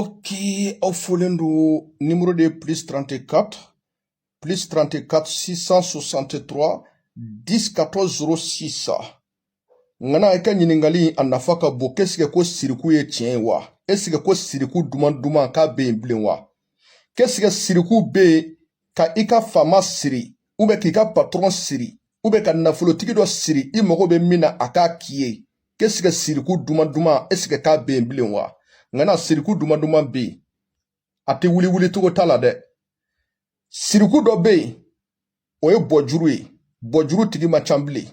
Ok, aw folen don nimero de ye plus 34 plus 34 663 10 14 06 ŋana i ka ɲiningali a nafa ka bon k'esike ko siriku ye tiɲɛ ye wa esike ko siriku duman duman k'a be yen bilen wa k'esike siriku be yen ka i ka faama siri ou bien k'i ka patɔrɔn siri ou bien ka nafolotigi dɔ siri i mago be min na a k'a k'i ye k'esike siriku duman duman esike k'a bɛ yen bilen wa ŋana siriku duman duman bɛ yen a tɛ wuli wuli cogo t'a la dɛ siriku dɔ bɛ yen o ye bɔjuru ye bɔjuru tigi man ca bilen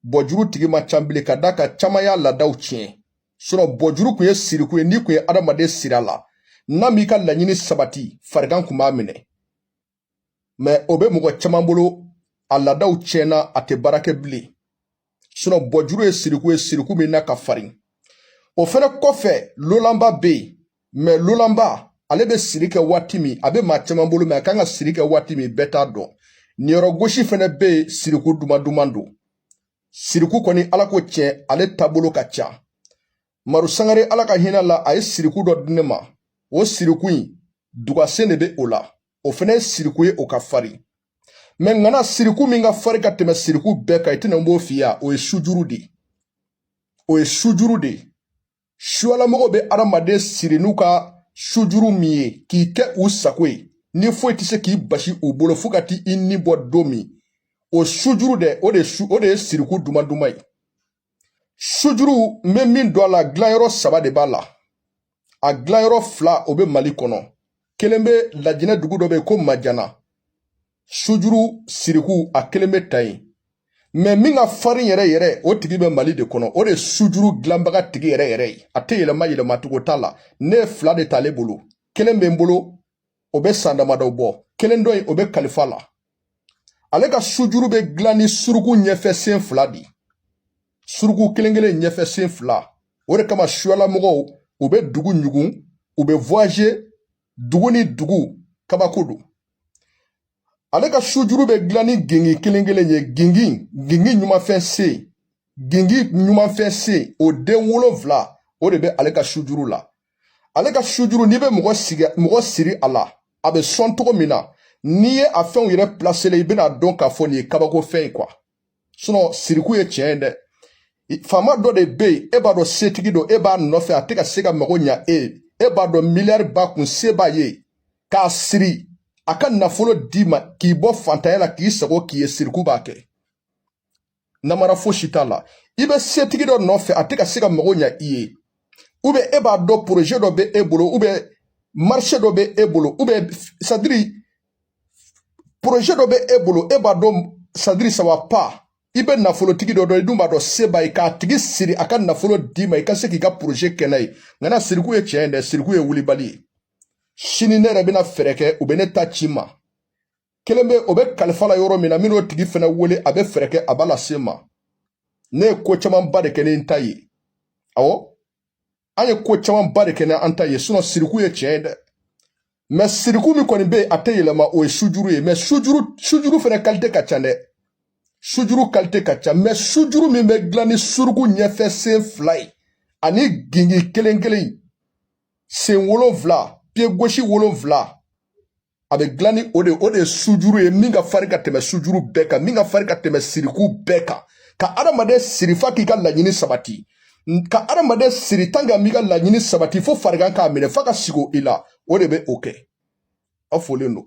bɔjuru tigi man ca bilen ka d'a kan caman y'a laadaw tiɲɛ sinɔn bɔjuru kun ye siriku ye n'i kun ye adamaden sir'a la n'a m'i ka laɲini sabati farigan kun b'a minɛ mɛ o bɛ mɔgɔ caman bolo a laadaw tiɲɛna a tɛ baara kɛ bilen sinɔn bɔjuru ye siriku ye siriku min na ka farin o fɛnɛ kɔfɛ lolanba bɛ yen mɛ lolanba ale bɛ siri kɛ waati min a bɛ maa caman bolo mɛ a kan ka siri kɛ waati min bɛɛ t'a dɔn niyɔrɔ gosi fɛnɛ bɛ yen siriku duman duman don siriku kɔni ala ko tiɲɛ ale taabolo ka ca maru sangare ala ka hinɛ la a ye siriku dɔ di ne ma o siriku in dugasen de bɛ o la o fana ye siriku ye o ka fari mɛ ŋana siriku min ka fari ka tɛmɛ siriku bɛɛ kan i tɛna n b'o f'i ya o ye sujuru de o ye sujuru de suyalamɔgɔw bɛ adamaden siri n'u ka sujuru min ye k'i kɛ u sago ye ni foyi tɛ se k'i basi u bolo fo ka t'i ni bɔ don min o sujuru dɛ o de su o de ye siriku duman duman ye sujuru n bɛ min dɔn a la dilanyɔrɔ saba de b'a la a dilanyɔrɔ fila o bɛ mali kɔnɔ kelen bɛ lajinɛ dugu dɔ bɛ yen ko manjana sujuru siriku a kelen bɛ ta yen mɛ min ka farin yɛrɛ yɛrɛ o tigi bɛ mali de kɔnɔ o de ye sujuru dilanbaga tigi yɛrɛ yɛrɛ ye a tɛ yɛlɛma yɛlɛma cogo t'a la ne ye fila de ta ale bolo kelen bɛ n bolo o bɛ san damadɔ bɔ kelen dɔ in o bɛ kalifa la ale ka sujuru bɛ dilan ni suruku ɲɛfɛ sen fila de ye suruku kelen kelen ɲɛfɛ sen fila o de kama suyalamɔgɔw u bɛ dugu ɲugun u bɛ voyager dugu ni dugu kabako don ale ka sujuru bɛ dilan ni gingin kelen kelen ye gingin gingin numanfɛ sen gingin numanfɛ sen o den wolonfila o de bɛ ale ka sujuru la ale ka sujuru n'i bɛ mɔgɔ sigi mɔgɔ siri a la a bɛ sɔn cogo min na n'i ye a fɛnw yɛrɛ pilaselen i bɛna dɔn k'a fɔ nin ye kabako fɛn ye kuwa sinɔn siriku ye tiɲɛ ye dɛ faama dɔ de bɛ yen e b'a dɔn setigi don e b'a nɔfɛ a tɛ ka se ka mago ɲa e ye e b'a dɔn miliyari b'a kun se b'a ye k'a siri a ka nafolo d'i ma k'i bɔ fantanya la k'i sago k'i ye siriku b'a kɛ namara fosi t'a la i bɛ setigi dɔ nɔfɛ a tɛ ka se ka mago ɲɛ i ye ubiyɛn e b'a dɔn poroze dɔ bɛ e bolo ubiyɛn marise dɔ bɛ e bolo ubiyɛn sadiri poroze dɔ bɛ e bolo e b'a dɔn sadiri sava pa i bɛ nafolotigi dɔ dɔn i dun b'a dɔn se b'a ye k'a tigi siri a ka nafolo d'i ma i ka se k'i ka poroze kɛ n'a ye nka na siriku ye tiɲɛ ye dɛ siriku ye wulibali ye sini ne yɛrɛ bɛna fɛɛrɛ kɛ u bɛ ne ta ci n ma kelen bɛ o bɛ kalifa la yɔrɔ min na min n'o tigi fana wele a bɛ fɛɛrɛ kɛ a b'a lase n ma ne ye ko camanba de kɛ ni n ta ye awɔ an ye ko camanba de kɛ ni an ta ye sinɔn siriku ye tiɲɛ ye dɛ mɛ siriku min kɔni bɛ yen a tɛ yɛlɛma o ye sujuru ye mɛ sujuru fana kalite ka ca dɛ sujuru kalite ka ca mɛ sujuru min bɛ dilan ni suruku ɲɛfɛ sen fila ye ani gingin kelen kelen sen wolonfila piye gosi wolonfila a bɛ dilan ni o de o de ye sujuru ye min ka farin ka tɛmɛ sujuru bɛɛ kan min ka farin ka tɛmɛ siriku bɛɛ kan ka adamaden siri fa k'i ka laɲini sabati ka adamaden siri tan ka m'i ka laɲini sabati fo farigan k'a minɛ fa ka sigo i la o de bɛ o kɛ aw folen don